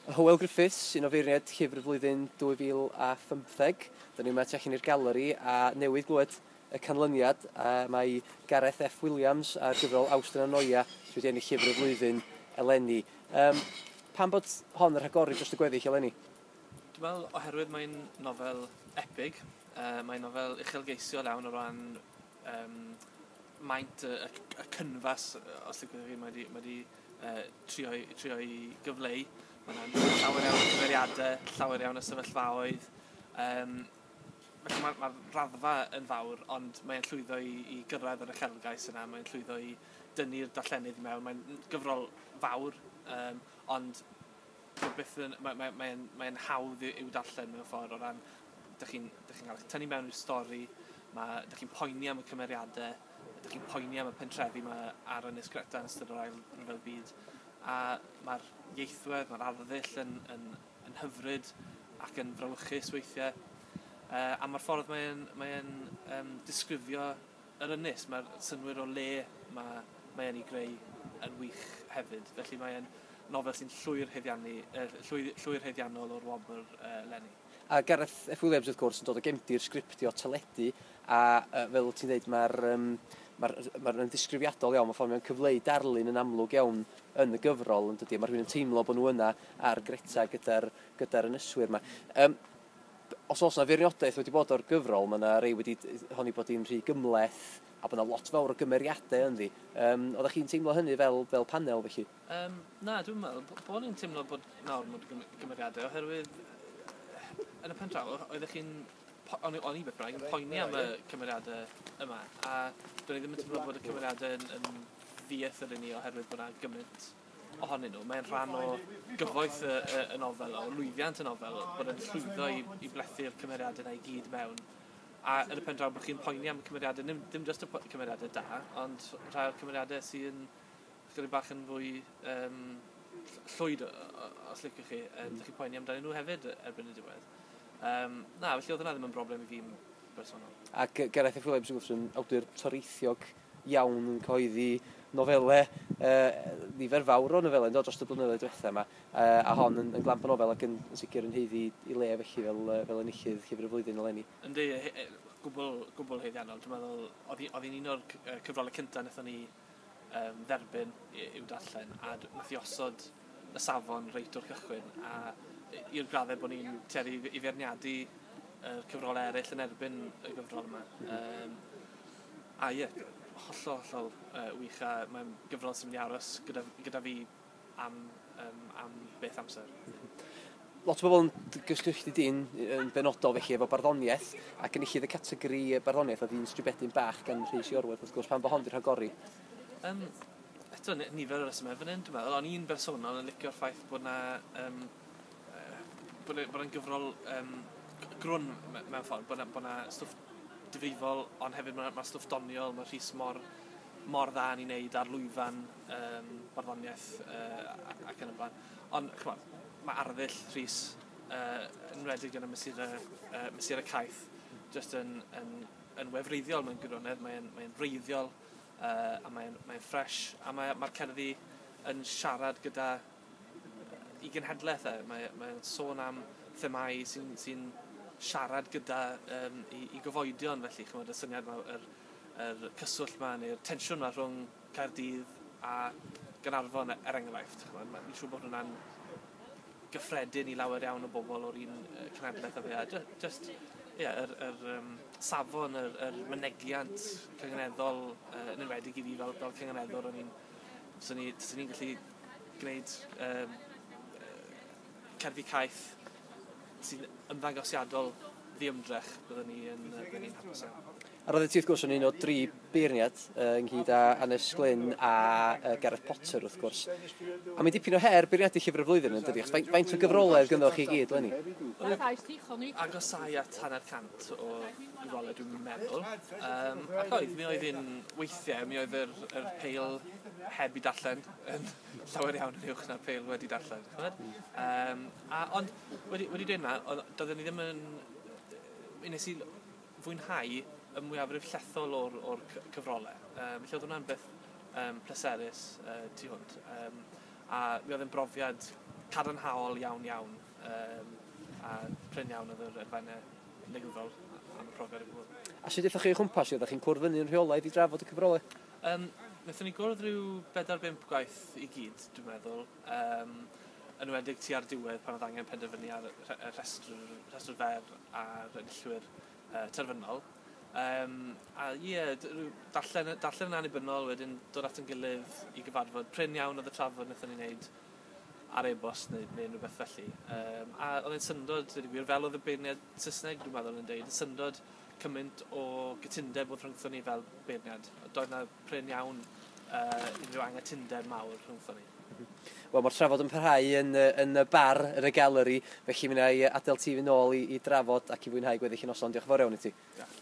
Hywel Griffiths, un o feirniaid llyfr y flwyddyn 2015. Dyn ni yma tu allan i'r galeri a newydd glywed y canlyniad. Uh, mae Gareth F Williams a'r gyfrol Awst yn Anoia sydd wedi ennill llyfr y flwyddyn eleni. Um, pan bod hon yn rhagori dros y gweddill eleni? Dwi'n meddwl oherwydd mae'n nofel epig, uh, mae'n nofel uchelgeisiol iawn o ran Yym, maint y y y cynfas yy os liciwch chi mae 'di mae 'di yy trio i trio i gyfleu ma' 'na llawer iawn o cymeriade, llawer iawn o sefyllfaoedd yym felly ma'r ma'r raddfa yn fawr ond mae e'n llwyddo i i gyrraedd yr uchelgais yna mae'n llwyddo i dynnu'r darllenydd i mewn mae'n n- gyfrol fawr yym ond dyw e byth yn ma' mae mae e'n mae e'n hawdd i i'w darllen mewn ffor o ran dych chi'n dych chi'n cael eich tynnu mewn i'r stori, ma' dych chi'n poeni am y cymeriade, dych chi'n poeni am y pentrefi 'ma ar Ynys Greta yn ystod yr Ail Ryfel Byd, a ma'r ieithwedd, ma'r arddull yn yn yn hyfryd ac yn frawychus weithie. Yy a ma'r ffordd mae e'n mae e'n yym disgrifio yr ynys, ma'r synnwyr o le ma' mae e'n 'u greu yn wych hefyd. Felly mae e'n nofel sy'n llwyr haeddiannu yy llwy- llwyr haeddiannol o'r wobr yy leni. A Gareth F Williams wrth gwrs yn dod o gefndir sgriptio teledu a uh, fel ti'n dweud mae'r um, mae'r ma ddisgrifiadol iawn, mae ffordd mae'n cyfleu darlun yn amlwg iawn yn y gyfrol yn dydy, mae rhywun yn teimlo bod nhw yna ar Greta gyda'r gyda ynyswyr yma. Um, os oes yna feirniadaeth wedi bod o'r gyfrol, mae yna rei wedi honi bod hi'n rhy gymleth a bod yna lot fawr o gymeriadau ynddi. Um, oeddech chi'n teimlo hynny fel, fel panel felly? Yym, na, dwi'm yn meddwl b- bo' ni'n timlo bod nawr ma' 'di gym- cymeriade oherwydd yn y pen draw o- oeddech chi'n po- o'n i o'n i beth bynnag yn poeni am y cymeriade yma a do'n i ddim yn timlo bod y cymeriade yn yn ddi-eithir i ni oherwydd bo' 'na gymint ohonyn nw mae'n rhan o gyfoeth y y y nofel o lwyddiant y nofel bod e'n llwyddo i i blethu'r cymeriade 'na i gyd mewn a yn y pen draw bo' chi'n poeni am y cymeriade nim- dim jyst y po- cymeriade da ond rhai o'r cymeriade sy yn Chydig bach yn fwy yym llwyd os liciwch chi. Dych chi'n poeni amdanyn nhw hefyd erbyn y diwedd. Yym na, felly oedd hwnna ddim yn broblem i fi yn bersonol. Ac Gareth F Williams, wrth gwrs, yn awdur toreithiog iawn yn cyhoeddi nofelau, nifer fawr o nofelau yndo, dros y blynyddoedd diwetha' 'ma, a hon yn yn glamp o nofel ac yn yn sicr yn haeddu 'i le felly fel yy fel enillydd Llyfr y Flwyddyn eleni. Yndi, gwbwl gwbwl haeddiannol. Dwi'n meddwl oedd hi oedd hi'n un o'r cyfrolau cynta' wnaethon ni yn dderbyn i'w darllen a d- nath 'i osod y safon reit o'r cychwyn a i- i'r gradde bo' ni'n tueddu i f- i feirniadu yr cyfrole eryll yn erbyn y gyfrol yma yym a ie hollol hollol yy wych a mae'n gyfrol sy myn' i aros gyda f- gyda fi am um, am beth amser. Lot o bobl yn gysylltu dyn yn benodol felly efo barddoniaeth ac yn enillydd y categori barddoniaeth oedd un stribedyn bach gan Rhys Iorwerth wrth gwrs pan bod hon wedi rhagori. Um, eto nifer o resymau fan hyn dwi'n meddwl, ond un bersonol yn licio'r ffaith bod yna um, bod yna'n gyfrol um, grwn mewn ffordd, bod yna stwff difrifol, ond hefyd mae yna stwff doniol, mae Rhys mor, mor dda yn ei wneud ar lwyfan yym barddoniaeth yy ac yn y blaen. Ond ch'mod, mae arddull Rhys yy yn enwedig yn y mesurau yy mesurau caeth jyst yn yn yn wefreiddiol mewn gwirionedd, mae'n mae'n wreiddiol uh, a mae'n mae'n ffres a mae mae'r cerddi yn siarad gyda uh, i genhedlaeth e. Mae mae'n sôn am themâu sy'n sy siarad gyda um, i, i gyfoedion felly chymod y syniad yma yr yr cyswllt 'ma neu'r tensiwn 'ma rhwng Caerdydd a Gaernarfon er enghraifft, ch'mod, ma'... Fi'n siŵr bod hwnna'n gyffredin i lawer iawn o bobol o'r un yy cenedleth â fi a jy- jyst ie yr yr yym safon yr yr mynegiant cyngenedol yy yn enwedig i fi fel fel cyngeneddwr o'n i'n swn i swn i'n gallu gwneud yym yy cerddi caeth sy'n ymddangosiadol ddiymdrech byddwn i yn yy byddwn i'n hapus iawn. A roeddet ti wrth gwrs yn un o dri beirniad yy ynghyd â Annes Glyn a yy Gareth Potter wrth gwrs. A mae'n dipyn o her beirniadu Llyfr y Flwyddyn yn dydi? Achos faint, faint o gyfrolau oedd gyndddo chi i gyd leni? Agosau at hanner cant o gyfrolau dwi'n meddwl. Um, ac oedd, mi oedd un weithiau, mi oedd yr, yr peil heb i darllen yn llawer iawn yn uwch na'r peil wedi darllen. Um, a, ond wedi, wedi dweud na, doedden ni ddim yn... Nes i fwynhau y mwyafrif llethol o'r o'r cy- cyfrole. Yym felly o'dd hwnna'n beth yym pleserus yy tu hwnt yym a mi oedd e'n brofiad cadarnhaol iawn iawn yym a prin iawn oedd yr elfenne negyddol am y profiad o gwbwl. A sut aethoch chi o chwmpas hi? Oeddach chi'n cwrdd fyny yn rheolaidd i drafod y cyfrole? Yym nethon ni gwrdd ryw bedair bump gwaith i gyd dwi'n meddwl. Yn enwedig tua'r diwedd pan oedd angen penderfynu ar y rhestr, rhestr fer a'r enillwyr uh, terfynol. Um, a ie, yeah, darllen, darllen yn annibynnol wedyn dod at yn gilydd i gyfarfod. Prin iawn oedd y trafod wnaethon ni'n neud ar e-bost neu, neu unrhyw beth felly. Um, a oedd e'n syndod, dweud y gwir, fel oedd y beirniad Saesneg dwi'n meddwl yn dweud, yn syndod cymaint o gytundeb o'dd rhyngthon ni fel beirniad. Doedd 'na prin iawn uh, unrhyw anghytundeb mawr rhyngthon ni. Wel, mae'r trafod yn parhau yn, yn y bar, yn y galeri, felly mi wna i adael ti fynd nôl i, i drafod ac i fwynhau gweddill y noson. Diolch yn fawr iawn i ti. Diolch.